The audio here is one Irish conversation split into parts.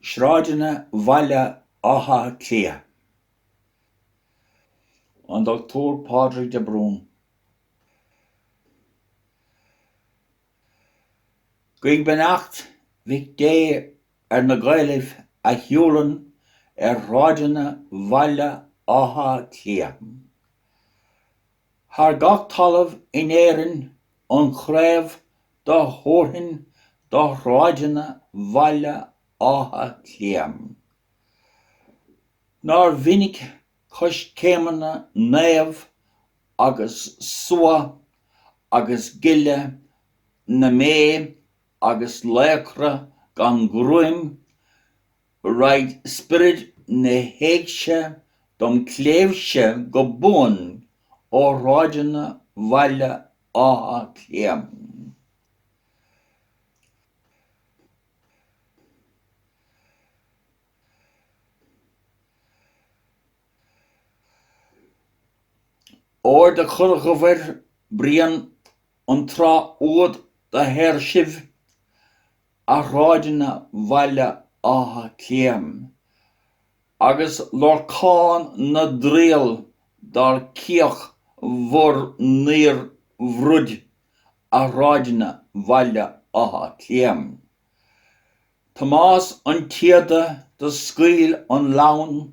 Sráideanna Bhaile Átha Cliath, An Dr Pádraig de Brún, Guigh beannacht Mhic Dé ar na Gaelaibh a shiúlann ar shráideanna Bhaile Átha Cliath. Thar gach talamh in Éirinn an chraobh do thabharfainn do shráideanna Bhaile Átha Cliath. Nár mhinic coiscéimeanna naomh agus suadh agus gile na mbé agus laochra gan ghruaim Raghaid spirid na héigse dom cléibhse go buan ó shráideanna Bhaile Átha Cliath. Óir do chuir Dhobhair Brian an tráth úd do shaor sibh, a shráideanna Bhaile Átha Cliath agus Lorcán na dtriall dar ciach bhur ndaorbhroid a shráideanna Bhaile Átha Cliath. Tomás an tSíoda do scaoil an lann.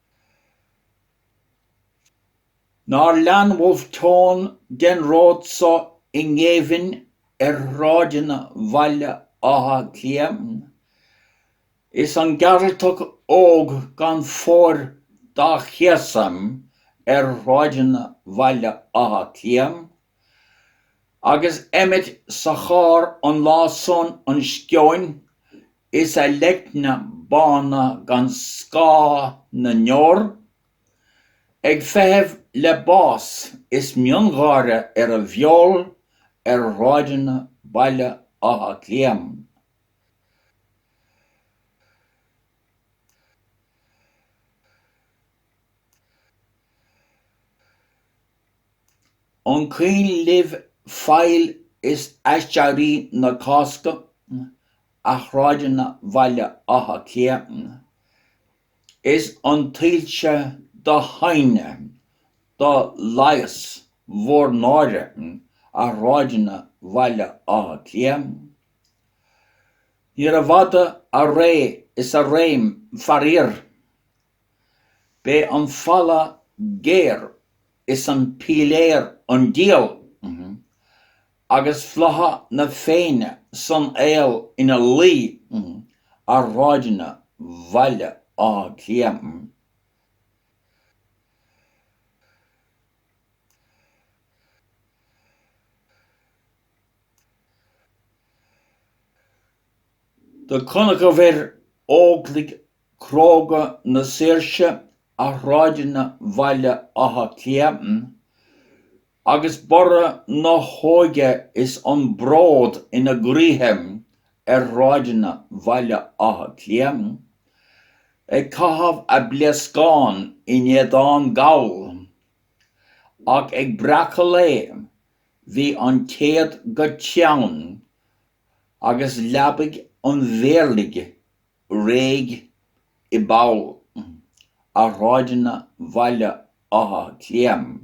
Nár lean Wolfe Tone den ród so i ngéibhinn ar shráideanna Bhaile Átha Cliath? Is an Gearaltach óg gan fóir dá chéasadh ar shráideanna Bhaile Átha Cliath? Agus Emmet sa charr an lá san an sceoin Is a leicne bána gan scáth na ndeor ag feitheamh le bás is miongháire ar a bheol ar shráideanna Bhaile Átha Cliath. An cuimhin libh faill is aiséirí na Cásca? a shráideanna Bhaile Átha Cliath is an tsoilse do hadhnadh do leigheas bhur náire, a shráideanna Bhaile Átha Cliath. Níorbh fhada a ré is a réim, faraor. B'é an falla géar is an piléar an díol, agus flatha na Féinne san aol ina luí ar shráideanna Bhaile Átha Cliath. Do chonacabhair óglaigh cróga na saoirse a shráideanna Bhaile Átha Cliath, agus borradh na hóige is an bród ina gcroíthe ar shráideanna Bhaile Átha Cliath, ag caitheamh a bpléascán in éadán Gall. Ach ag breacadh lae bhí an téad go teann agus leabaidh an mhéirligh réidh i bpoll ar shráideanna Bhaile Átha Cliath.